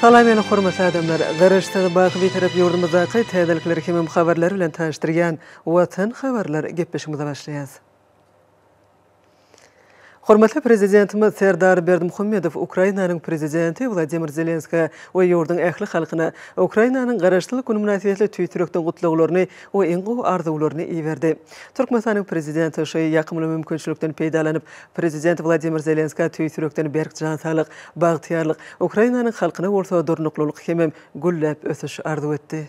Salam meni hormatly adamlar! Garaşsyz, baky Bitarap ýurdumyzdaky täzelikleri hemem habarlary bilen tanyşdyrýan Watan habarlar gepleşigimize başlaýas. Hormatly Prezidentimiz Serdar Berdimuhamedow Ukrainanyň Prezidenti Wladimir Zelenskä we ýurduň ähli halkyna Ukrainanyň Garaşsyzlyk güni mynasybetli tüýs ýürekden gutlaglaryny we iň gowy arzuwlaryny iberdi. Türkmenistanyň Prezidenti şu ýakymly mümkinçilikden peýdalanyp, Prezident Wladimir Zelenskä tüýs ýürekden berk jan saglyk, bagtyýarlyk, Ukrainanyň halkyna bolsa durnuklylyk hemem gülläp ösüş arzuw etdi.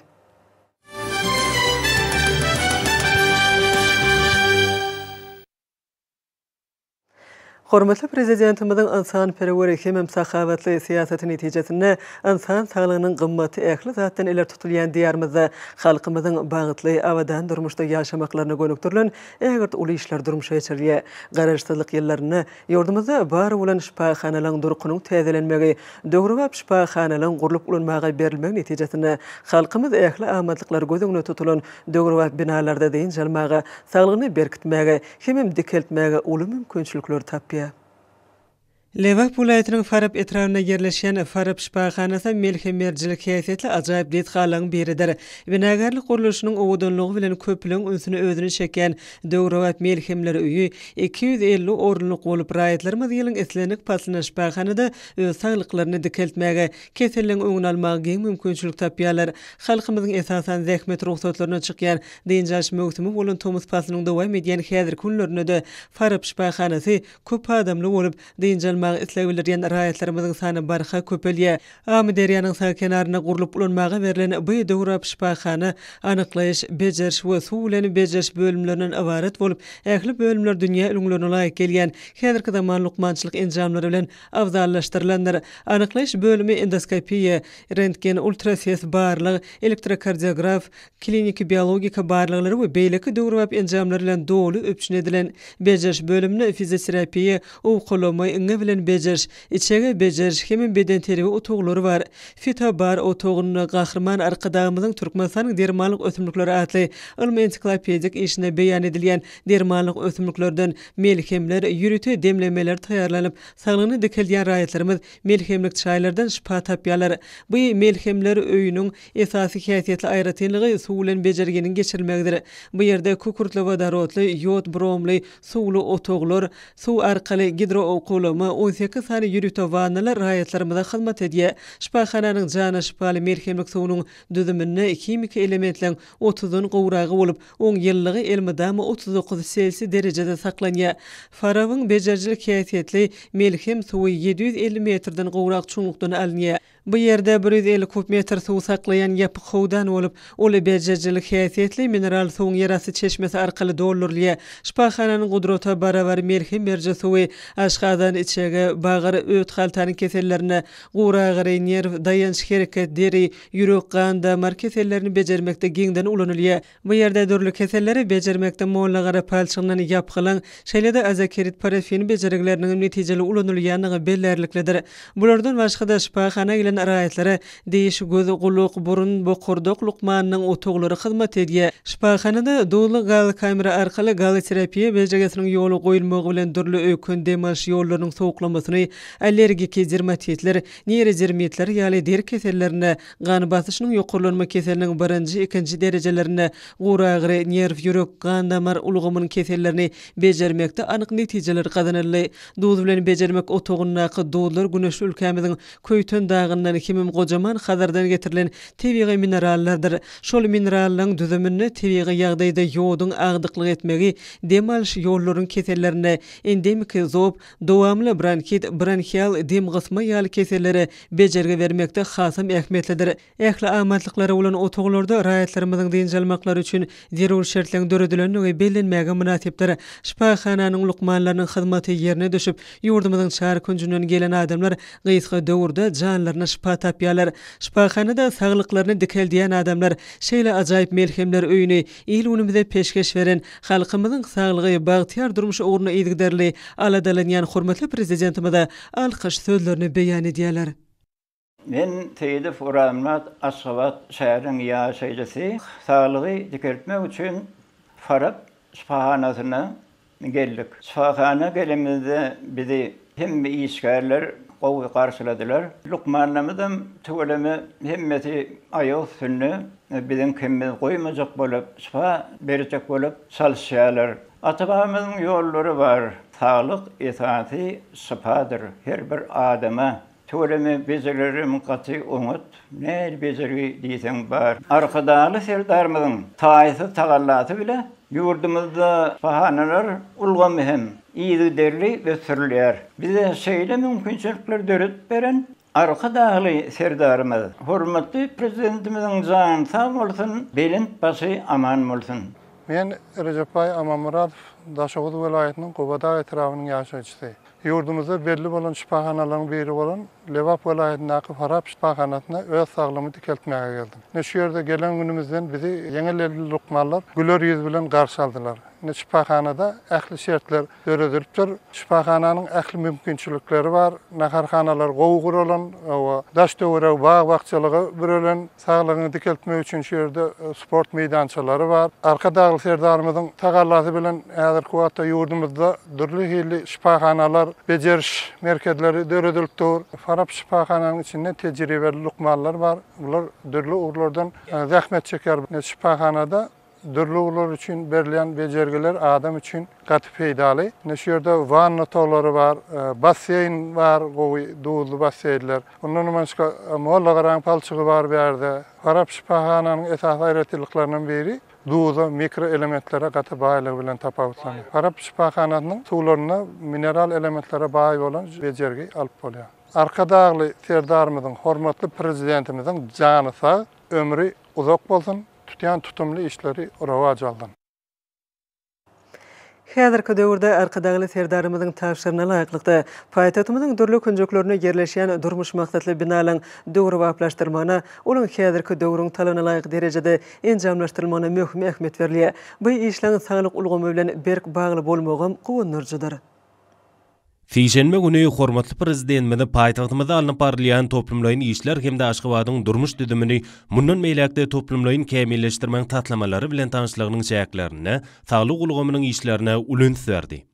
Hormatly Prezidentimiziň ynsanperwer hemem sahawatly syýasaty netijesinde ynsan saglygynyň gymmaty ähli zatdan ileri tutulýan Diýarymyzda halkymyzyň bagtly, abadan durmuşda ýaşamaklaryna gönükdirilen ägirt uly işler durmuşa geçirilýär. Garaşsyzlyk ýyllarynda Ýurdumyzda bar bolan şypahanalaryň durkunyň täzelenmegi, döwrebap şypahanalaryň gurlup ulanmaga berilmegi netijesinde, halkymyz ähli amatlyklary göz öňünde tutulan döwrebap binalarda dynç almaga, saglygyny berkitmäge hemem dikeltmäge uly mümkinçilikleri tapýar. Lebap welaýatynyň Farap etrabynda ýerleşýän Farap şypahanasy melhem-merjilik häsiýetli ajaýyp desgalaryň biridir. Binagärlik gurluşynyň owadanlygy bilen köpüleň ünsüni özüne çekýän Döwrebap melhemler öýi iki ýüz elli orunlyk bolup, raýatlarymyz ýylyň islendik paslynda şypahanada öz saglyklaryny dikeltmäge, keselligiň öňüni almaga giň mümkinçilik tapýarlar. Halkymyzyň esasan zähmet rugsatlaryna çykýan dynç alyş möwsümi bolan tomus paslynyň dowam edýän häzirki günlerinde-de Farap şypahanasy köp adamly bolup, dynç almaga isleg bildirýän raýatlarymyzyň sany barha köpelýär. Amyderýanyň sag kenarynda gurlup ulanmaga berlen bu döwrebap şypahana anyklaýyş, bejeriş we suw bilen bejeriş bölümlerinden ybarat bolup, ähli bölümler dünýä ülňülerine laýyk gelýän häzirki zaman lukmançylyk enjamlary bilen abzallaşdyrylandyr. Anyklaýyş bölümi endoskopiýa, rentgen, ultrases barlag, elektrokardiograf, kliniki biologika barlaglary we beýleki döwrebap enjamlar bilen doly üpjün edilen. Bejeriş bölüminde fizioterapiýa, owkalama, iňňe bilen bejeriş, Içege bejeriş hem bedenterbiýe otaglary bar. Fitobar otagynda Gahryman Arkadagymyzyň Türkmenistanyň dermanlyk ösümlikleri atly ylmy-ensiklopedik işinde beýan edilýän dermanlyk ösümliklerden melhemler, ýörite demlemeler taýýarlanyp, saglygyny dikeldýän raýatlarymyz melhemlik çaýlardan şypa tapýarlar. Bu melhemler öýüniň esasy häsiýetli aýratynlygy suw bilen bejerginiň geçirilmegidir. Bu ýerde kükürtli-wodorodly, ýod-bromly, Suwly otaglar, suw arkaly gidroowkawlama, on sekiz sany ýörite wannalar raýatlarymyza hyzmat edýär. Şypahananyň jana şypaly melhemlik suwunyň düzüminde himiki elementleň otuzdan gowragy bolup, oň ýylylygy elmydama otuz dokuz selsiý derejede saklanýar. Farabyň bejerijilik häsiýetli melhem suwy ýedi ýüz elli metrden gowrak çuňlukdan alynýar. Bu ýerde bir ýüz elli kub metr suw saklaýan ýapyk howdan bolup, uly bejerijilik häsiýetli mineral suwuň ýerasty çeşmesi arkaly doldurylýar. Şypahananyň gudrata barabar melhem beriji suwy aşgazan, içege, bagyr, öt-haltanyň kesellerine, guragyry, nerw, daýanç, hereket, deri, ýürek, gan-damar kesellerini bejermekde giňden ulanylýar. Bu ýerde dürli keselleri bejermekde mollagara palçygyndan ýapgylyň, şeýle-de azakirit parafin bejergileriniň hem netijeli ulanylýandygy bellärliklidir. Bulardan başga-da, şypahana gelen raýatlara diş, göz, gulak, burun, bokurdak lukmanynyň otaglary hyzmat edýär. Şypahanada duzly gaz kamera arkaly gazoterapiýa bejergisiniň ýola goýulmagy bilen dürli öýken dem alyş ýollarynyň sowuklamasyny, allergiki dermatitler, neýrodermitler ýaly deri kesellerine, Gan basyşynyň ýokarlanma keseliniň birinji, ikinji derejelerinde guragyry, nerw, ýürek, gan-damar ulgamynyň kesellerini bejermekde anyk netijeler gazanyldy. Duz bilen bejermek otagyndaky duzlar güneşli ülkämiziň Köýten dagyndan hemem Gojaman Hazardan getirilen tebigy minerallardyr. Şol minerallaryň düzüminde tebigy ýagdaýda ýoduň agdyklyk etmegi dem alyş ýollaryň kesellerinde, endemiki zob, Dowamly bronhit, bronhial dem gysma ýaly kesellere bejergi bermekde hasam ähmiýetlidir. Ähli amatlyklary bolan otaglarda raýatlarymyzyň dynç almaklary üçin zerur şertleriň döredilendigi bellenmäge mynasypdyr. Şypahananyň lukmanlarynyň hyzmaty ýerine düşüp, ýurdumyzyň çar künjünden gelen adamlar gysga döwürde janlaryna şypa tapýarlar. Şypahanada saglyklaryny dikeldýän adamlar şeýle ajaýyp melhemler öýüni Il-günümize peşgeş beren, halkymyzyň saglygy, bagtyýar durmuşy ugrunda yzygiderli aladalanýan hormatly Prezidentimize alkyş sözlerini beýan edýärler. Men Seýidow Uranmyrat, Aşgabat şäheriniň ýaşaýjysy. Saglygy dikeltmek üçin Farap şypahanasyna geldik. Şypahana gelenimizde bizi hemme işgärler gowy garşyladylar. Lukmanlarymyzam tüweleme hemmesi aýak üstünde biziň kemimizi goýmajak bolup, şypa berjek bolup çalyşýarlar. Ata-babamyzyň ýollary bar, Saglyk esasy şypadyr, her bir adama Tüweleme bejererim gaty oňat, nähili bejergi diýseň bar. Arkadagly Serdarymyzyň taýsyz tagallasy bilen ýurdumyzda şyhanalar ulgamy hem yzygiderli ösdürilýär. Bize şeýle mümkinçilikleri döredip beren Arkadagly Serdarymyz, hormatly Prezidentimiziň jany sag bolsun, belent başy aman bolsun! Men Rejepbaý Amanmyradow, Daşoguz welaýatynyň Gubadagýetrabynyň ýaşaýjysy. Ýurdumyzda belli bolan şypahanalaryň biri bolan Lebap welaýatyndaky Farap şypahanasyna öz saglygymy dikeltmäge geldim. Ine şu ýerde gelen günümizden bizi ýeňil elli lukmanlar güler ýüz bilen garşy aldylar. Ine şypahanada ähli şertler döredilipdir. Şypahananyň ähli mümkinçilikleri bar. Naharhanalar gowy guralan we daş-töweregi bag-bakjalyga bürelen. Saglygyňy dikeltmek üçin şu ýerde sport meýdançalary bar. Arkadagly Serdarymyzyň tagallasy bilen häzirki wagtda ýurdumyzda dürli hilli şypahanalar, bejeriş merkezleri döredilip dur. Farap şypahananyň içinde tejribeli lukmanlar bar. Bular dürli ugurlardan zähmet çekýär. Şypahanada Dürli ugurlar üçin berilýän bejergiler adam üçin gaty peýdaly. Ine şu ýerde wanna otaglary bar, basseýn bar, gowy duzly basseýnler. Ondanam başga mollagaraň palçygy bar bu ýerde. Farap şypahananyň esasy aýratynlyklaryndan biri duza, mikroelementlere gaty baýlygy bilen tapawutlanýar. Farap şypahanasynyň suwlarynda mineral elementlere baý bolan bejergi alyp bolýar. Arkadagly Serdarymyzyň, hormatly Prezidentimiziň jany sag, ömri uzak bolsun! tutýan tutumly işleri rowaç aldyň. Häzirki döwürde Arkadagly Serdarymyzyň tabşyryna laýyklykda, paýtagtymyzyň dürli künjeklerinde ýerleşýän durmuş maksatly binalaryň döwrebaplaşdyrylmagyna, olaryň häzirki döwrüň talabyna laýyk derejede enjamlaşdyrylmagyna möhüm ähmiýet berilýär. Bu işleň saglyk ulgamy bilen berk bagly bolmagam guwandyryjydyr. Sişenbe güni hormatly Prezidentimiz paýtagtymyzda alnyp barylýan toplumlaýyn işler hem-de Aşgabadyň durmuş düzümini mundan beýläk-de toplumlaýyn kämilleşdirmegiň taslamalary bilen tanyşlygynyň çäklerinde saglyk ulgamynyň işlerine uly üns berdi.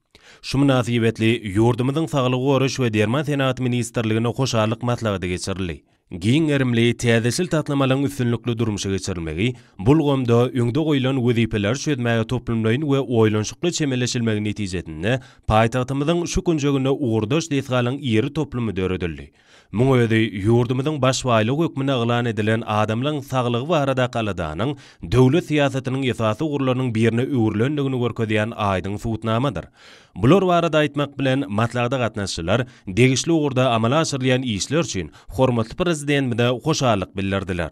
Şu mynasybetli ýurdumyzyň Saglygy goraýyş we derman senagaty ministrliginde hoşallyk maslahaty geçirildi. Giň gerimli täzeçil taslamalaryň üstünlikli durmuşa geçirilmegi bu ulgamda öňde goýlan wezipeleri çözmäge toplumlaýyn we oýlanyşykly çemeleşilmegi netijesinde paýtagtymyzyň şu künjeginde ugurdaş desgalaryň iri toplumy döredildi. Muň özi ýurdumyzyň baş baýlygy hökmünde yglan edilen adamlaryň saglygy baradaky aladanyň döwlet syýasatynyň esasy ugurlarynyň birine öwrülendigini görkezýän aýdyň subutnamadyr. Bular barada aýtmak bilen, maslahata gatnaşyjylar degişli ugurda amala aşyrylýan işler üçin hormatly Prezidentimize hoşallyk bildirdiler.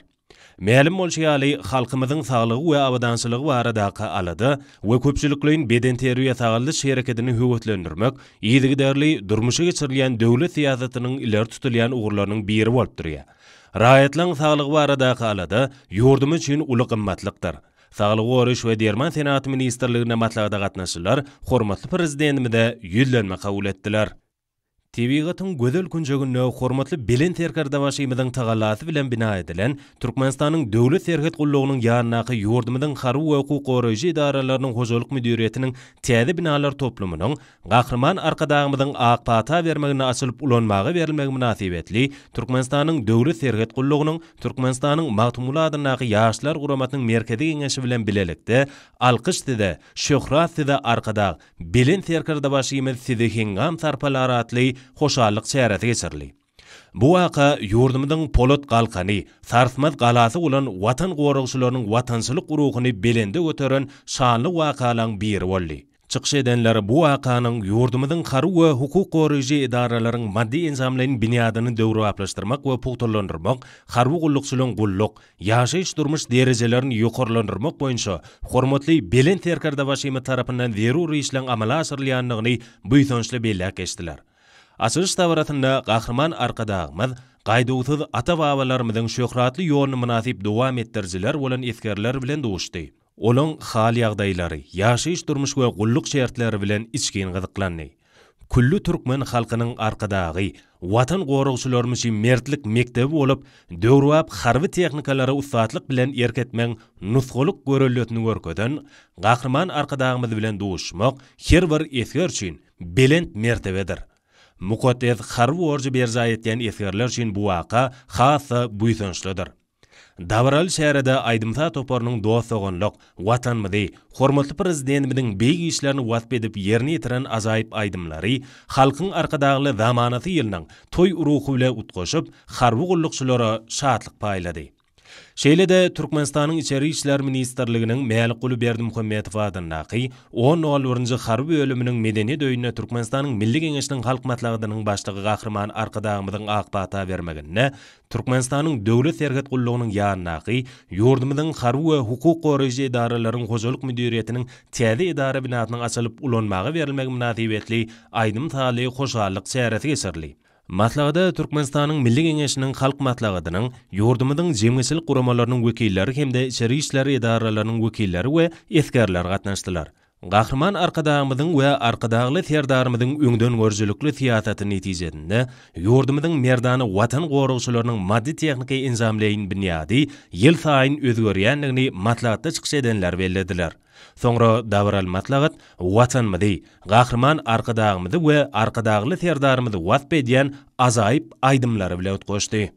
Mälim bolşy ýaly, halkymyzyň saglygy we abadançylygy baradaky alada we köpçülikleýin bedenterbiýe-sagaldyş herekedini höweslendirmek yzygiderli durmuşa geçirilýän döwlet syýasatynyň ileri tutulýan ugurlarynyň biri bolup durýar. Raýatlaryň saglygy baradaky alada ýurdumyz üçin uly gymmatlykdyr. Saglygy goraýyş we derman senaty ministrliginde maslahata gatnaşyjylar hormatly Prezidentimize Ýüzlenme kabul etdiler. Tebigatyň gözel künjeginde hormatly Belent Serkerdebaşymyzyň tagallasy bilen bina edilen Türkmenistanyň Döwlet serhet gullugynyň ýanyndaky ýurdumyzyň harby we hukuk goraýjy edaralarynyň hojalyk müdiriýetiniň täze binalar toplumynyň Gahryman Arkadagymyzyň ak pata bermeginde açylyp ulanmaga berilmegi mynasybetli Türkmenistanyň Döwlet serhet gullugynyň Türkmenistanyň Magtymguly adyndaky Ýaşlar guramasynyň Merkezi Geňeşi bilen bilelikde Alkyş size, şöhrat size Arkadag, Belent Serkerdebaşymyz sizi heňňam sarpalar atly hoşallyk çäresi geçirildi. Bu waka ýurdumyzyň polat galkany, sarsmaz galasy bolan Watan goragçylarynyň watançylyk ruhuny belende göteren şanly wakalaň biri boldy. Çykyş edenler bu wakanyň ýurdumyzyň harby we hukuk goraýjy edaralaryň maddy-enjamlaýyn binýadyny döwrebaplaşdyrmak we pugtalandyrmak, harby gullukçylaryň gulluk, ýaşaýyş-durmuş derejelerini ýokarlandyrmak boýunça hormatly Belent Serkerdebaşymyz tarapyndan zerur işleň amala aşyrylýandygyny buýsançly belläp geçdiler. Açylyş dabarasynda Gahryman Arkadagymyz gaýduwsyz ata-babalarymyzyň şöhratly ýoluny mynasyp dowam etdirijiler bolan esgerler bilen duşdy. Olaryň hal-ýagdaýlary, ýaşaýyş-durmuş we gulluk şertleri bilen içgin gyzyklandy. Külli türkmen halkynyň Arkadagy Watan goragçylarymyz üçin mertlik mekdebi bolup, döwrebap harby tehnikalara ussatlyk bilen erk etmegiň nusgalyk göreldesini görkezen Gahryman Arkadagymyz bilen duşmak her bir esger üçin belent mertebedir. Mukaddes harby borjy berjaý etýän esgerler üçin bu waka has-da buýsançlydyr. Dabaraly çärede aýdym-saz toparynyň dost-doganlyk, Watanymyzy, hormatly Prezidentimiziň beýik işlerini wasp edip ýerine ýetiren ajaýyp aýdymlary, Halkyň Arkadagly zamanasy ýylynyň toý ruhy bilen utgaşyp, harby gullukçylara şatlyk paýlady. Şeýle-de Türkmenistanyň Içeri işler ministrliginiň Mälikguly Berdimuhamedow adyndaky on nol birinji harby bölüminiň Medeniýet öýünde Türkmenistanyň Milli Geňeşiniň Halk Maslahatynyň Başlygy Gahryman Arkadagymyzyň ak pata bermeginde Türkmenistanyň Döwlet serhet gullugynyň ýanyndaky ýurdumyzyň harby we hukuk goraýjy edaralaryň hojalyk müdiriýetiniň täze edara binasynyň açylyp ulanmaga berilmegi mynasybetli aýdym-sazly hoşallyk çäresi geçirildi. Maslahata Türkmenistanyň Milli Geňeşiniň Halk Maslahatynyň, ýurdumyzyň jemgyýetçilik guramalarynyň wekilleri hem-de içeri işler edaralarynyň wekilleri we esgerler gatnaşdylar. Gahryman Arkadagymyzyň we Arkadagly Serdarymyzyň öňdengörüjilikli syýasaty netijesinde ýurdumyzyň merdana Watan goragçylarynyň maddy-tehniki enjamlaýyn binýady ýylsaýyn özgerýändigini maslahatda çykyş edenler bellediler. Soňra dabaraly maslahat Watanymyzy, Gahryman Arkadagymyzy we Arkadagly Serdarymyzy wasp edýän ajaýyp aýdymlary bilen utgaşdy.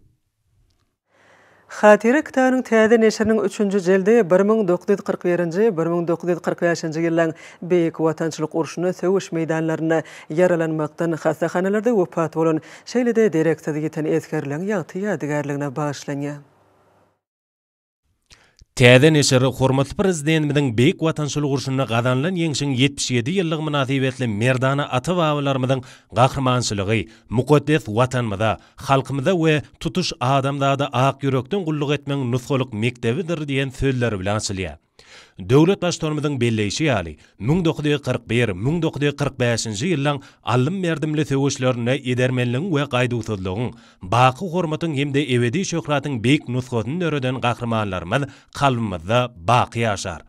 Hatyra kitabynyň täze neşiriniň üçünji jildi bir müň dokuz ýüz kyrk birinji, bir müň dokuz ýüz kyrk bäşinji ýyllaryň Beýik Watançylyk urşunda söweş meýdanlarynda ýaralanmakdan hassahanalarda wepat bolan, şeýle-de dereksiz ýiten esgerleriň ýagty ýadygärligine bagyşlanýar. Täze neşir hormatly Prezidentimiziň Beýik Watançylyk urşunda gazanylan ýeňşiň ýetmiş ýedi ýyllygy mynasybetli merdana ata-babalarymyzyň gahrymançylygy, mukaddes Watanymyza, halkymyza we tutuş adamzada ak ýürekden gulluk etmegiň nusgalyk mekdebidir diýen sözleri bilen açylýar. Döwlet Baştutanymyzyň belleýşi ýaly, müň dokuz ýüz kyrk bir, müň dokuz ýüz kyrk bäşinji ýyllaryň alym-merdimli söweşlerinde edermenligiň we gaýduwsyzlygyň, baky hormatyň hem-de ebedi şöhratyň beýik nusgasyny döreden gahrymanlarymyz kalbymyzda baky ýaşar.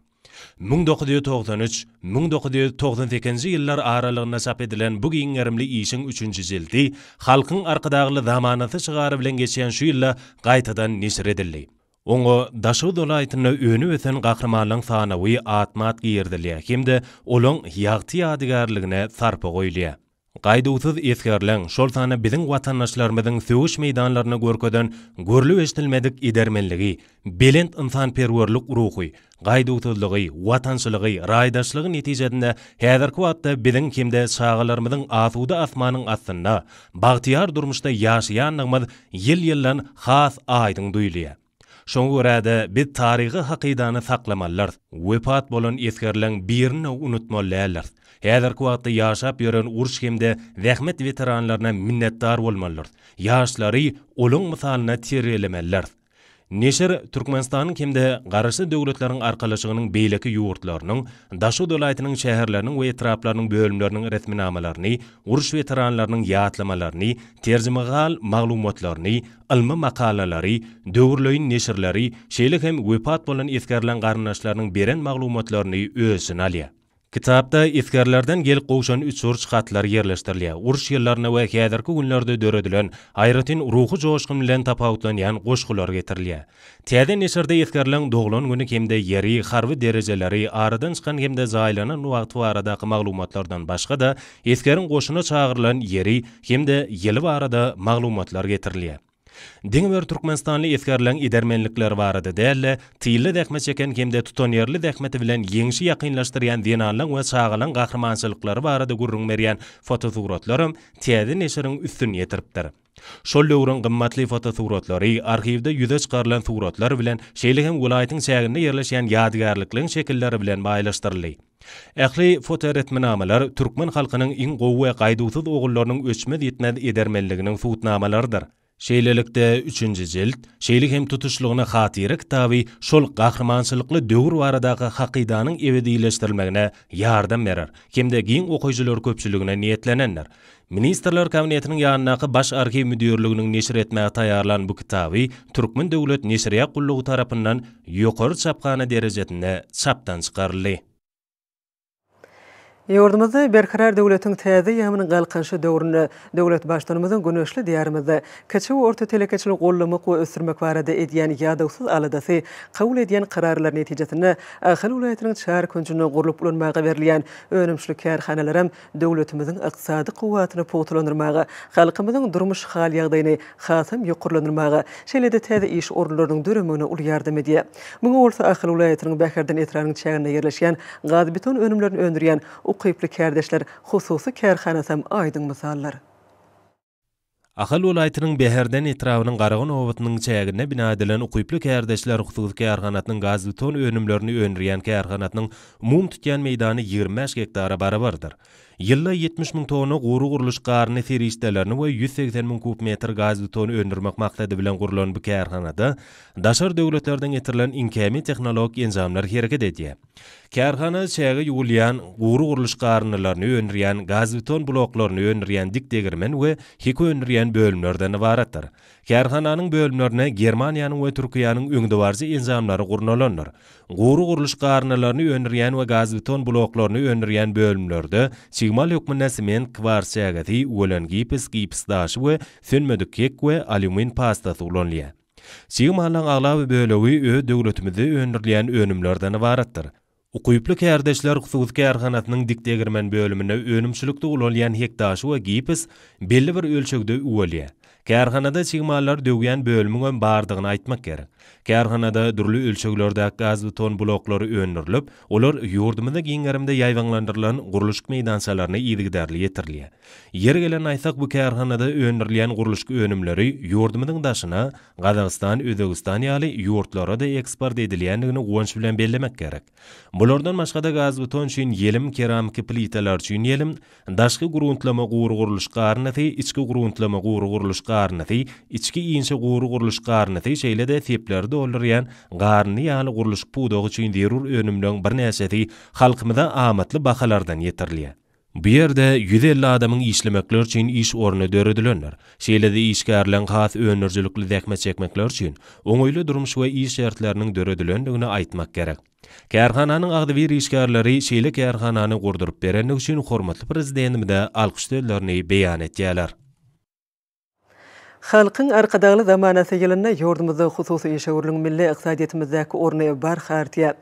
Müň dokuz ýüz togsan üç, müň dokuz ýüz togsan sekizinji ýyllar aralygynda çap edilen bu giň gerimli işiň üçünji jildi Halkyň Arkadagly zamanasy şygary bilen geçýän şu ýylda gaýtadan neşir edildi. Oňa Daşoguz welaýatynda öni-ösen gahrymanlaryň sanawy atma-at girizilýär hem-de olaň ýagty ýadygärligine sarpa goýulýar. Gaýduwsyz esgerleň, şol sanda biziň watandaşlarymyzyň söweş meýdanlarynda görkezen görlüp-eşidilmedik edermenligi, belent ynsanperwerlik ruhy, gaýduwsyzlygy, watançylygy, raýdaşlygy netijesinde häzirki wagtda biziň hem-de çagalarymyzyň asuda asmanyň astynda, bagtyýar durmuşda ýaşaýandygymyz ýyl-ýyldan has aýdyň duýulýar. Şoňa görä-de, biz taryhy hakydany saklamalydyrys, wepat bolan esgerleň birini-de unutmaly däldiriz. Häzirki wagtda ýaşap ýören uruş hem-de zähmet weteranlaryna minnetdar bolmalydyrys, ýaşlary olaň mysalyna terbiýelemelidiris. Neşir Türkmenistanyň hem-de Garaşsyz Döwletleriň Arkalaşygynyň beýleki ýurtlarynyň, Daşoguz welaýatynyň şäherleriniň we etraplarynyň bölümleriniň resminamalaryny, uruş weteranlarynyň ýatlamalaryny, terjimehal maglumatlaryny, ylmy makalalary, döwürleýin neşirleri, şeýle hem wepat bolan esgerleriň garyndaşlarynyň beren maglumatlaryny öz içine alýar. Kitapda esgerlerden gelip gowşan uçuryş hatlary ýerleşdirilýär, uruş ýyllarynda we häzirki günlerde döredilen, aýratyn ruhy joşgun bilen tapawutlanýan goşgular getirilýär. Täze neşirde esgerleň doglan güni hem-de ýeri, harby derejeleri, aradan çykan hem-de jaýlanan wagty baradaky maglumatlardan başga-da, esgeriň goşuna çagyrylan ýeri hem-de ýyly barada maglumatlar getirilýär. Diňe bir türkmenistanly esgerleň edermenlikleri barada däl-de, tylda zähmet çeken hem-de tutanýerli zähmeti bilen ýeňşi ýakynlaşdyrýan zenanlaň we çagalaň gahrymançylyklary barada gürrüň berýän fotosuratlaram täze neşiriň üstüni ýetiripdir. Şol döwrüň gymmatly fotosuratlary, arhiwde ýüze çykarylan suratlar bilen, şeýle hem welaýatyň çäginde ýerleşýän ýadygärlikligiň şekilleri bilen baýlaşdyryldy. Ähli fotoresminamalar türkmen halkynyň iň gowy we gaýduwsyz ogullarynyň öçmez-ýitmez edermenliginiň subutnamalarydyr. Şeýlelikde, üçünji jilt, şeýle hem tutuşlygyna hatyra kitaby şol gahrymançylykly döwür baradaky hakydanyň ebedileşdirilmegine ýardam berer hem-de giň okyjylar köpçüligine niýetlenendir. Ministrler Kabinetiniň ýanyndaky Baş arhiw müdirliginiň neşir etmäge taýýarlan bu kitaby Türkmen döwlet neşirýat gullugy tarapyndan ýokary çaphana derejesinde çapdan çykaryldy. Ýurdumyzda Berkarar döwletiň täze ýagmynyň Galkynyşy döwründe döwlet Baştutanymyzyň güneşli Diýarymyzda kiçi we orta telekeçiligi goldamak we ösdürmek barada edýän ýadawsyz aladasy, kabul edýän kararlary netijesinde Ahal welaýatynyň çar künjünde gurlup ulanmaga berilýän önümçilik kärhanalaram döwletimiziň ykdysady kuwwatyny pugtalandyrmaga, halkymyzyň durmuş hal-ýagdaýyny hasam ýokarlandyrmaga, şeýle-de täze iş orunlarynyň döremegine uly ýardam edýär. Muňa bolsa Ahal welaýatynyň Bäherden etrabynyň çäginde ýerleşýän gazbeton önümlerini öndürýän ukyply kärdeşler hususy kärhanasam aýdyň mysaldyr. Ahal welaýatynyň Bäherden etrabynyň Garagun obasynyň çäginde bina edilen ukyply kärdeşler hususy kärhanasynyň gazbeton önümlerini öndürýän kärhanasynyň umumy tutýan meýdany ýigrimi bäş gektara barabardyr. Ýylda ýetmiş müň tonna gury gurluş garyny serişdelerini we ýüz segsen müň kub metr gazbeton öndürmek maksady bilen gurlan bu kärhanada daşary döwletlerden getirilen iňkämi tehnologik enjamlar hereket edýär. Kärhana çäge ýuwulýan gury gurluş garyndylaryny öndürýän, gazbeton bloklaryny öndürýän dik degirmen we hek öndürýän bölümlerden ybaratdyr. Kärhananyň bölümlerine Germaniýanyň we Türkiýäniň öňdebaryjy enjamlary gurnalandyr. Gury gurluş garyndylaryny öndürýän we gazbeton bloklaryny öndürýän bölümlerde çig mal hökmünde sement, kwars çägesi, wlen gipis, gipis daşy we sönmedik hek we alýumin pastasy ulanylýar. Çig mallaň aglaba bölegi öz döwletimizde öndürilýän önümlerden ybaratdyr. Ukyply kärdeşler hususy kärhanasynyň dik-degirmen bölüminde önümçilikde ulanylýan hekdaşy we gipis belli bir ölçegde uwelýär. Kärhanada çig mallary döwýän bölümiňem bardygyny aýtmak gerek. Kärhanada dürli ölçeglerdäki gazbeton bloklary öndürilip, olar ýurdumyzda giň gerimde ýaýbaňlandyrylan gurluşyk meýdançalaryna yzygiderli ýetirilýär. Ýeri gelende aýtsak, bu kärhanada öndürilýän gurluşyk önümleri ýurdumyzyň daşyna, Gazagystan, Özbegistan ýaly ýurtlara-da eksport edilýändigini guwanç bilen bellemek gerek. Bulardan başga-da gazbeton üçin ýelim, keramiki plitalar üçin ýelim, daşky gruntlama gury gurluş garynysy, içki gruntlama gury gurluş garynysy, içki inçe gury gurluş garynysy, şeýle-de sepleri doldurýan garyny ýaly gurluşyk pudagy üçin zerur önümleriň birnäçesi halkymyza amatly bahalardan ýetirilýär. Bu ýerde ýüz elli adamyň işlemekleri üçin iş orny döredilendir. Şeýle-de işgärleň has öndürijilikli zähmet çekmekleri üçin oňaýly durmuş we iş şertleriniň döredilendigini aýtmak gerek. Kärhananyň agzybir işgärleri şeýle kärhanany gurduryp berendigi üçin hormatly Prezidentimize alkyş sözlerini beýan etýärler. Halkyň Arkadagly zamanasy ýylynda ýurdumyzda hususy işewürligiň milli ykdysadyýetimizdäki orny barha artýar.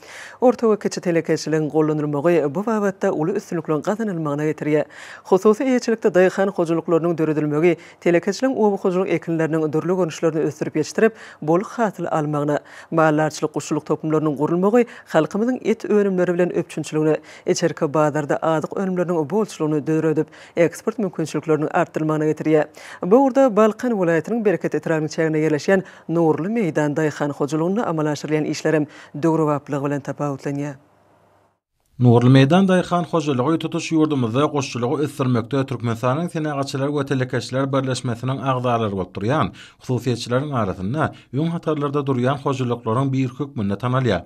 Orta we kiçi telekeçiligiň gollanylmagy bu babatda uly üstünlikliň gazanylmagyna getirýär. Hususy eýeçilikde daýhan hojalyklarynyň döredilmegi telekeçiligiň oba hojalyk ekinleriniň dürli görnüşlerini ösdürip ýetişdirip, bol hasyl almagyna, maldarçylyk-guşçulyk toplumlarynyň gurulmagy halkymyzyň et önümleri bilen üpjünçiligine, içerki bazarda azyk önümleriniň bolçulygyny döredip, eksport mümkinçilikleriniň artdyrylmagyna getirýär. Bu ugurda Balkan welaýatynyň Bereket etrabynyň çäginde ýerleşýän Nurly meýdan daýhan hojalygynda amala aşyrylýan işler hem döwrebaplygy bilen tapawutlanýar. Nurly meýdan daýhan hojalygy tutuş ýurdumyzda guşçulygy ösdürmekde Türkmenistanyň Senagatçylar we telekeçiler birleşmesiniň agzalary bolup durýan hususyýetçileriň arasynda öň hatarlarda durýan hojalyklaryň biri hökmünde tanalýar.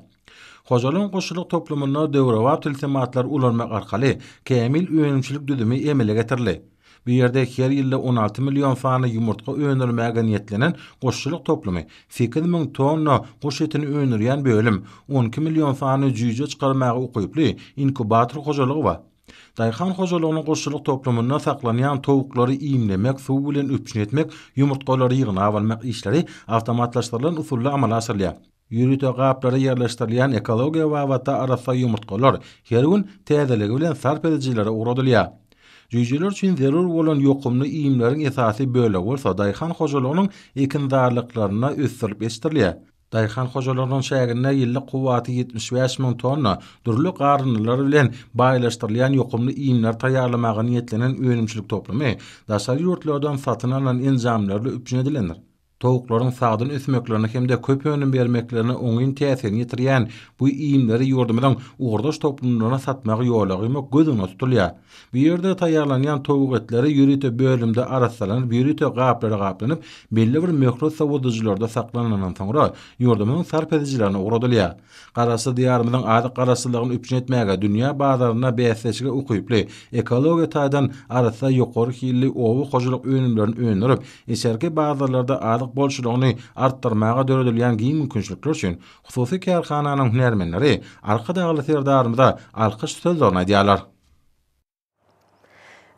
Hojalygyň guşçulyk toplumynda döwrebap tilsimatlary ulanmak arkaly kämil önümçilik düzümi emele getirildi. Bu ýerde her ýylda on alty million sany ýumurtga öndürmäge niýetlenen guşçulyk toplumy, sekiz müň tonna guş etini öndürýän bölüm, on iki million sany jüýje çykarmaga ukyply inkubator hojalygy bar. Daýhan hojalygynyň guşçulyk toplumynda saklanýan towuklary iýmlemek, suw bilen üpjün etmek, ýumurtgalary ýygnap almak işleri awtomatlaşdyrylan usulda amala aşyrylýar. Ýörite gaplara ýerleşdirilýän ekologiýa babatda arassa ýumurtgalar her gün täzeligi bilen sarp edijilere ugradylýar. Jüýjeler üçin zerur bolan ýokumly iýmleriň esasy bölegi bolsa daýhan hojalygynyň ekinzarlyklarynda ösdürilip ýetişdirilýär. Daýhan hojalygynyň çäginde ýyllyk kuwwaty ýetmiş bäş müň tonna dürli garyndylar bilen baýlaşdyrylýan ýokumly iýmleri taýýarlamaga niýetlenen önümçilik toplumy daşary ýurtlardan satyn alnan enjamlarla üpjün edilendir. Towuklaryň sagdyn ösmeklerine hem-de köp önüm bermeklerine oňyn täsirini ýetirýän bu iýmleri ýurdumyzyň ugurdaş toplumlaryna satmagy ýola goýmak göz öňünde tutulýar. Bu ýerde taýýarlanýan towuk etleri ýörite bölümde arassalanyp, ýörite gaplara gaplanyp, belli bir möhlet sowadyjylarda saklanandan soňra, ýurdumyzyň sarp edijilerine ugradylýar. Garaşsyz Diýarymyzyň azyk garaşsyzlygyny üpjün etmäge, dünýä bazarynda bäsdeşlige ukyply, ekologiýa taýdan arassa, ýokary hilli oba hojalyk önümlerini öndürip, içerki bazarlarda azyk bolçulygyny artdyrmaga döredilýän giň mümkinçilikler üçin hususy kärhananyň hünärmenleri Arkadagly Serdarymyza alkyş sözlerini aýdýarlar.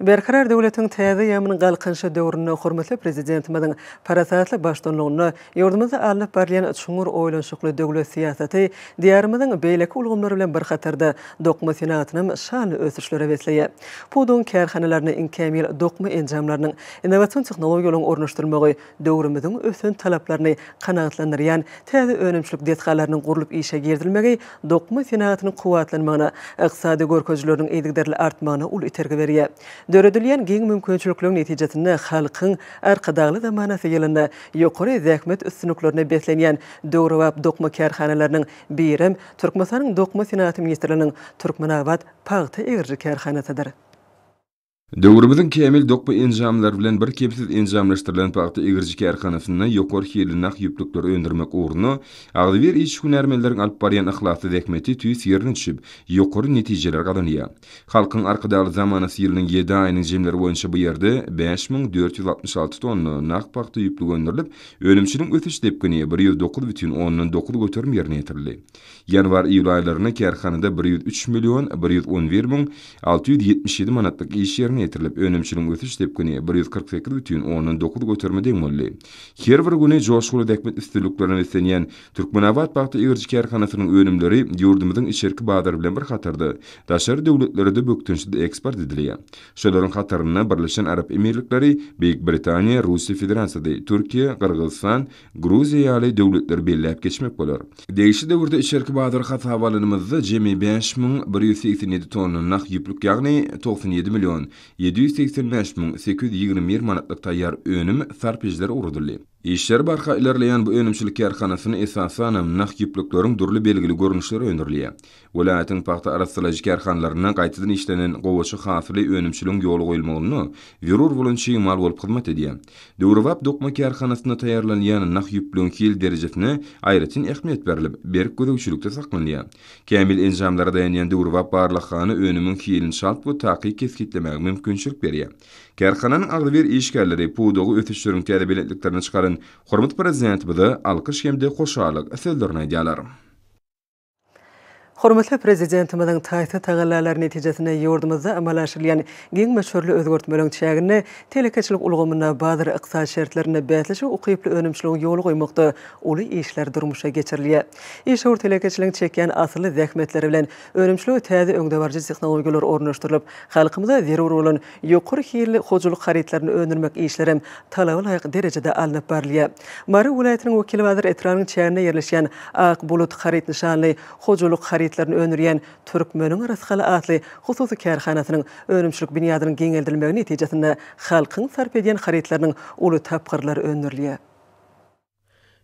Berkarar döwletiň täze ýaman galkynyşy döwründe hormatly Prezidentimiziň parasatly baştutanlygynda ýurdumyzda alnyp barylýan çuňňur oýlanyşykly döwlet syýasaty Diýarymyzyň beýleki ulgamlary bilen bir hatarda dokma senagatynam şanly ösüşlere besleýär. Pudagyň kärhanalaryna iňkämýyl dokma enjamlarynyň, innowasion tehnologiýalaryň ornaşdyrylmagy Döwrümiziň ösen talaplaryny kanagatlandyrýan täze önümçilik desgalarynyň gurlup işe girizilmegi dokma senagatynyň kuwwatlanmagyna, ykdysady görkezijileriniň yzygiderli artmagyna uly itergi berýär. Döredilýän giň mümkinçilikleriň netijesinde halkyň Arkadagly zamanasy ýylynda ýokary zähmet üstünliklerine beslenýän döwrebap dokma kärhanalarynyň birem Türkmenistanyň Dokma senagaty ministrliginiň Türkmenabat pagta egiriji kärhanasydyr. Döwrümiziň kämil dokma enjamlary bilen birkemsiz enjamlaşdyrylan pagta egiriji kärhanasynda ýokary hilli nah ýüplükleri öndürmek ugrunda agzybir işgünärmenleriň alyp barýan yhlasly zähmeti tüýs ýerine düşüp, ýokary netijeler gazanýar. Halkyň Arkadagly zamanasy ýylynyň ýedi aýynyň jemleri boýunça bu ýerde bäş müň dört ýüz altmyş alty tonna nah pagta ýüplügi öndürilip, önümçiligiň ösüş depgini bir ýüz dokuz bütin ondan dokuz göterim ýerine ýetirildi. Ýanwar-iýul aýlarynda kärhanada bir ýüz üç million bir ýüz on bir müň alty ýüz ýetmiş ýedi manatlyk iş ýerine ýetirilip, önümçiligiň ösüş depgini bir ýüz kyrk sekiz bütin ondan dokuz göterime deň boldy. Her bir güni joşguly zähmet üstünliklerine beslenýän Türkmenabat pagta egiriji kärhanasynyň önümleri ýurdumyzyň içerki bazary bilen bir hatarda, daşary döwletlere-de bökdençsiz eksport edilýär. Şolaryň hatarynda Birleşen Arap Emirlikleri, Beýik Britaniýa, Russiýa Federasiýasy, Türkiýe, Gyrgyzystan, Gruziýa ýaly döwletleri belläp geçmek bolar. Degişli döwürde içerki bazary hasaba alanymyzda jemi bäş müň bir ýüz segsen ýedi tonna nah ýüplük ýagny togsan ýedi million ýedi ýüz segsen bäş müň sekiz ýüz ýigrimi bir manatlyk taýýar önüm sarp edijiler ugradyldy. Işleri barha ilerleýän bu önümçilik kärhanasyny esasanam nah ýüplükleriň dürli belgili görnüşleri öndürilýär. Welaýatyň pagta arassalaýjy kärhanalarynda gaýtadan işlenen gowaça hasyly önümçiligiň ýola goýulmagynda zerur bolan çig mal bolup hyzmat edýär. Döwrebap dokma kärhanasynda taýýarlanýan nah ýüplügiň hil derejesine aýratyn ähmiýet berlip, berk gözegçilikde saklanýar. Kämil enjamlara daýanýan döwrebap barlaghana önümiň hilini çalt we takyk kesgitlemäge mümkinçilik berýär. Kärhananyň agzybir işgärleri pudagy ösüşleriň täze belentliklerine çykaran hormatly Prezidentimize alkyş hem-de hoşallyk sözlerini aýdýarlar. Hormatly Prezidentimiziň taýsyz tagallalary netijesinde ýurdumyzda amala aşyrylýan giň möçberli özgertmeleriň çäginde telekeçilik ulgamynda bazar-ykdysady şertlerinde bäsleşige ukyply önümçiligi ýola goýmakda uly işler durmuşa geçirilýär. Işewür telekeçiligiň çekýän asylly zähmetleri bilen önümçilige täze öňdebaryjy tehnologiýalar ornaşdyrylyp, halkymyza zerur bolan Ýokary hilli hojalyk harytlaryny öndürmek işleri hem talaba laýyk derejede alnyp barylýar. Mary welaýatynyň Wekilbazar etrabynyň çäginde ýerleşýän Ak bulut haryt nyşanly hojalyk harytlaryny öndürýän Türkmeniň rysgaly atly hususy kärhanasynyň önümçilik binýadynyň giňeldilmegi netijesinde halkyň sarp edýän harytlarynyň uly tapgyrlary öndürilýär.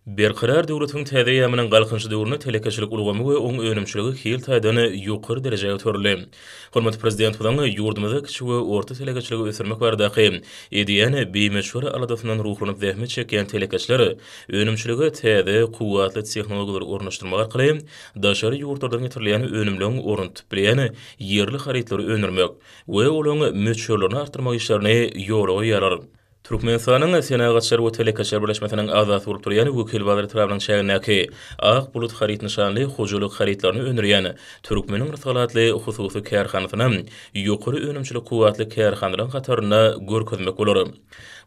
Berkarar döwletiň täze eýýamynyň Galkynyş döwründe telekeçilik ulgamy we oň önümçiligi hil taýdan ýokary derejä göterildi. Hormatly Prezidentimiziň ýurdumyzda kiçi we orta telekeçiligi ösdürmek baradaky edýän bimöçber aladasyndan ruhlanyp zähmet çekýän telekeçiler önümçilige täze, kuwwatly tehnologiýalary ornaşdyrmak arkaly daşary ýurtlardan getirilýän önümleň ornuny tutup bilýän ýerli harytlary öndürmek we olaň möçberlerini artdyrmak işlerini ýola goýýarlar. Türkmenistanyň Senagatçylar we telekeçiler birleşmesiniň agzasy bolup durýan Wekilbazar etrabynyň çägindäki Ak bulut haryt nyşanly hojalyk harytlaryny öndürýän Türkmeniň rysgal atly hususy kärhanasyny ýokary önümçilik kuwwatly kärhanalaryň hatarynda görkezmek bolar.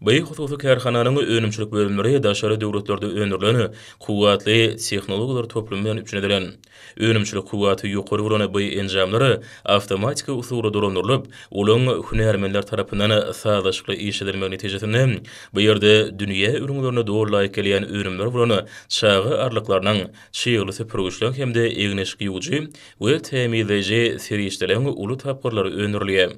By hususy kärhananyň önümçilik bölümleri daşary döwletlerde öndürilen kuwwatly tehnologiýalar toplumy bilen üpjün edilen. Önümçilik kuwwaty ýokary bolan bu enjamlar awtomatiki usulda dolandyrylyp, olaň hünärmenler tarapyndan sazlaşykly işledilmegi netijesinde, bu ýerde dünýä ülňülerine doly laýyk gelýän önümler bolan çaga arlyklarynyň, çygly süpürgiçleň hem-de egin-eşik ýuwujy we tämizleýji serişdeleň uly tapgyrlary öndürilýär.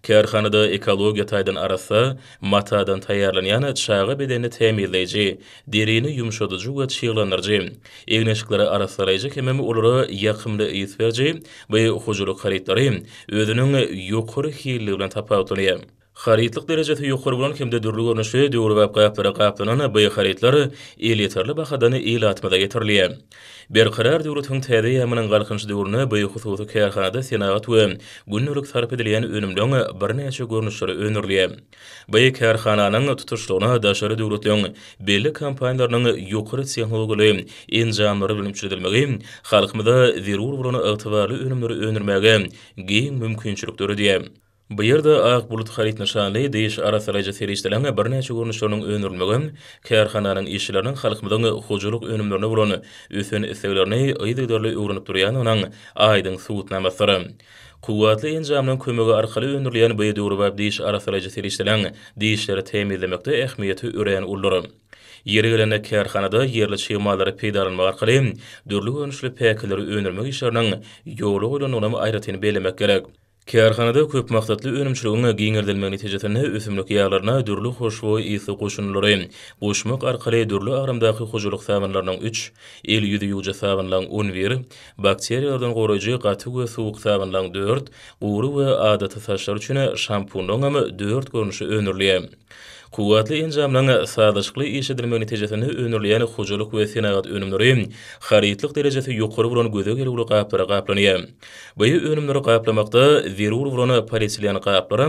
Kärhanada ekologiýa taýdan arassa, matadan taýýarlanýan çaga bedenini tämizleýji, derini ýumşadyjy we çyglandyryjy, egin-eşikleri arassalaýjy hemem olara ýakymly ys beriji bu hojalyk harytlary özüniň ýokary hilligi bilen tapawutlanýar. Harytlyk derejesi ýokary bolan hem-de dürli görnüşli döwrebap gaplara gaplanan bu harytlar elýeterli bahadan ilatymyza getirilýär. Berkarar döwletiň täze eýýamynyň Galkynyş döwründe bu hususy kärhanada senagat we gündelik sarp edilýän önümleň birnäçe görnüşleri öndürilýär. Bu kärhananyň tutuşlygyna daşary döwletleriň belli kompaniýalarynyň ýokary tehnologiýaly enjamlary bilen üçledilmegi halkymyza zerur bolan ygtybarly önümleri öndürmäge giň mümkinçilik döredýär. Bu ýerde Ak bulut haryt nyşanly diş arassalaýjy serişdeleriň birnäçe görnüşleriniň öndürilmegi kärhananyň işçileriniň halkymyzyň hojalyk önümlerine bolan ösen isleglerini yzygiderli öwrenip durýandygynyň aýdyň subutnamasydyr. Kuwwatly enjamlaryň kömegi arkaly öndürilýän bu döwrebap diş arassalaýjy serişdeleriň dişleri tämizlemekde ähmiýeti örän uludyr. Ýeri gelende kärhanada ýerli çig mallary peýdalanmak arkaly dürli görnüşli päkileri öndürmek işleriniň ýola goýlandygynam aýratyn bellemek gerek. Kärhanada köp maksatly önümçiligiň giňeldilmegi netijesinde ösümlik ýaglaryna dürli hoşboý ysly goşundylary goşmak arkaly dürli agramdaky hojalyk sabynlarynyň üç, el-ýüzi ýuwjy sabynlaň on bir, bakteriýalardan goraýjy gaty we suwuk sabynlaň dört, gury we adaty saçlar üçin şampunyňam dört görnüşi öndürilýär. Kuwwatly enjamlaryň sazlaşykly iş edilmegi netijesinde öndürilýän hojalyk we senagat önümleri harytlyk derejesi ýokary bolan göze gelüwli gaplara gaplanýar. Bu önümleri gaplamakda zerur bolan polietilen gaplar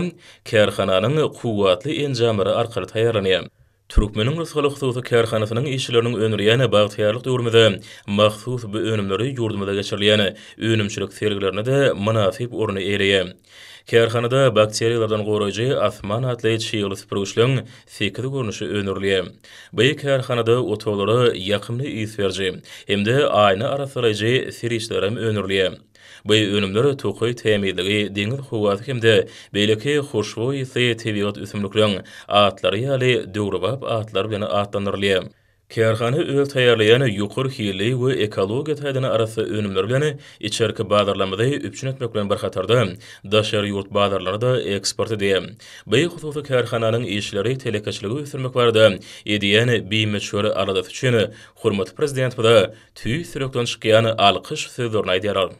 kärhananyň kuwwatly enjamlary arkaly taýýarlanýar. Türkmeniň Rysgaly hususy kärhanasynyň işçileriniň öndürýän bagtyýarlyk döwrümize mahsus bu önümleri ýurdumyzda geçirilýän önümçilik sergilerinde-de mynasyp orny eýeleýär. Kärhanada bakteriýalardan goraýjy Asman atly çygly süpürgiçleň sekiz görnüşi öndürilýär. By kärhanada otaglara ýakymly ys beriji hem-de aýna arassalaýjy siriçlerem öndürilýär. By önümler tokaý tämizligi, deňiz howasy hem-de beýleki hoşboý ysly tebigat ösümlikleň atlary ýaly döwrebap atlar bilen atlandyrylýar. Kärhana öz taýýarlaýan ýokary hilli we ekologiýa taýdan arassa önümleri bilen içerki bazarlarymyzy üpjün etmek bilen bir hatarda, daşary ýurt bazarlaryna-da eksport edýär. Bi hususy kärhananyň işleri telekeçiligi ösdürmek barada edýän bimöçber aladasy üçin hormatly Prezidentimize tüýs ýürekden çykýan alkyş sözlerini aýdýarlar.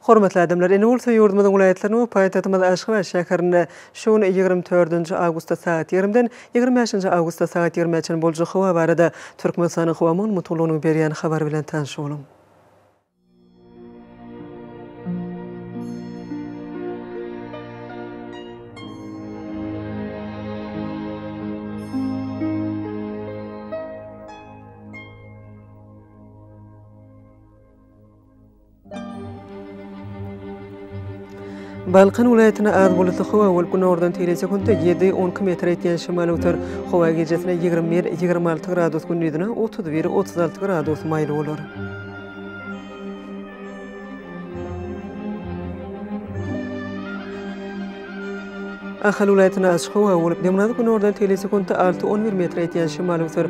Hormatly adamlar, indi bolsa ýurdumyzyň welaýatlarynyň we paýtagtymyz Aşgabat şäherinde şu gün ýigrimi dördünji awgustda sagat ýigrimiden ýigrimi bäşinji awgustda sagat ýigrimä çenli boljak howa barada Türkmenistanyň howa maglumatlygynyň berýän habary bilen tanyş boluň. Balkan welaýatyna az bulutly howa bolup, günordan teýle sekuntda ýedi, on iki metr etýän şemal öwser. Howa gijesine ýigrimi bir, ýigrimi alty gradus, gündizine otuz bir, otuz alty gradus maýyl bolar. Ahal welaýatyna açyk howa bolup, demirgazyk günordan teýle sekuntda alty, on bir metr etýän şemal öwser.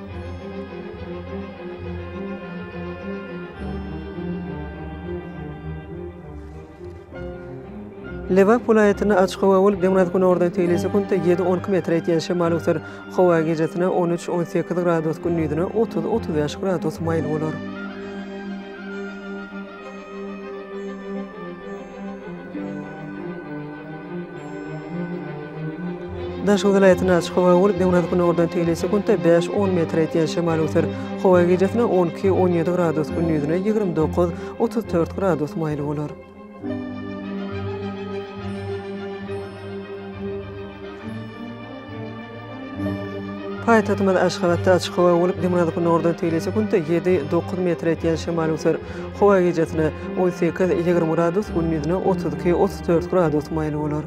Lebap welaýatynda açyk howa bolup, demirgazyk-günordan seýlese-künde ýedi on iki metre ýetýän şemal öser. Howa gijesine on üç on sekiz gradus, gündizine otuz otuz bäş gradus maýyl bolar. Daşoguz welaýatynda açyk howa bolup, günortan tegelýän sekuntda bäş, on metre ýetýän şemal öser. Howa gijasynda on iki, on ýedi gradus, gündizine ýigrimi dokuz, otuz dört gradus maýyl bolar. Paýtagtymyz Aşgabatda açyk howa bolup, dymyradyp-günordan tegelýse günde ýedi, dokuz metr etýän şemal öser. Howa gijesine on sekiz, ýigrimi gradus, gündizine otuz iki, otuz dört gradus maýyl bolar.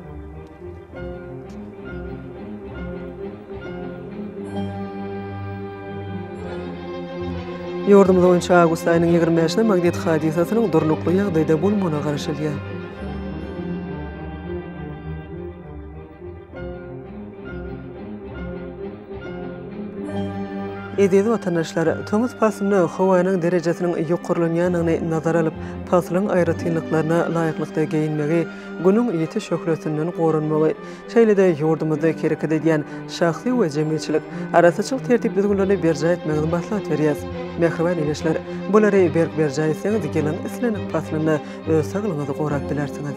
Ýurdumyz boýunça awgust aýynyň ýigrimi bäşine magnit hadysasynyň durnukly ýagdaýda bolmagyna garaşylýar. Eziz watandaşlar! Tomus paslynda howanyň derejesiniň ýokarlanýandygyny nazara alyp, paslyň aýratynlyklaryna laýyklykda geýinmegi, Günüň ýiti şöhlesinden goranmagy, şeýle-de ýurdumyzda hereket edýän şahsy we jemgyýetçilik arassaçylyk tertip-düzgünlerini berjaý etmegiňizi maslahat berýäs. Mähriban ildeşler! Bulary berk berjaý etseňiz, ýylyň islendik paslynda öz saglygyňyzy gorap bilersiňiz.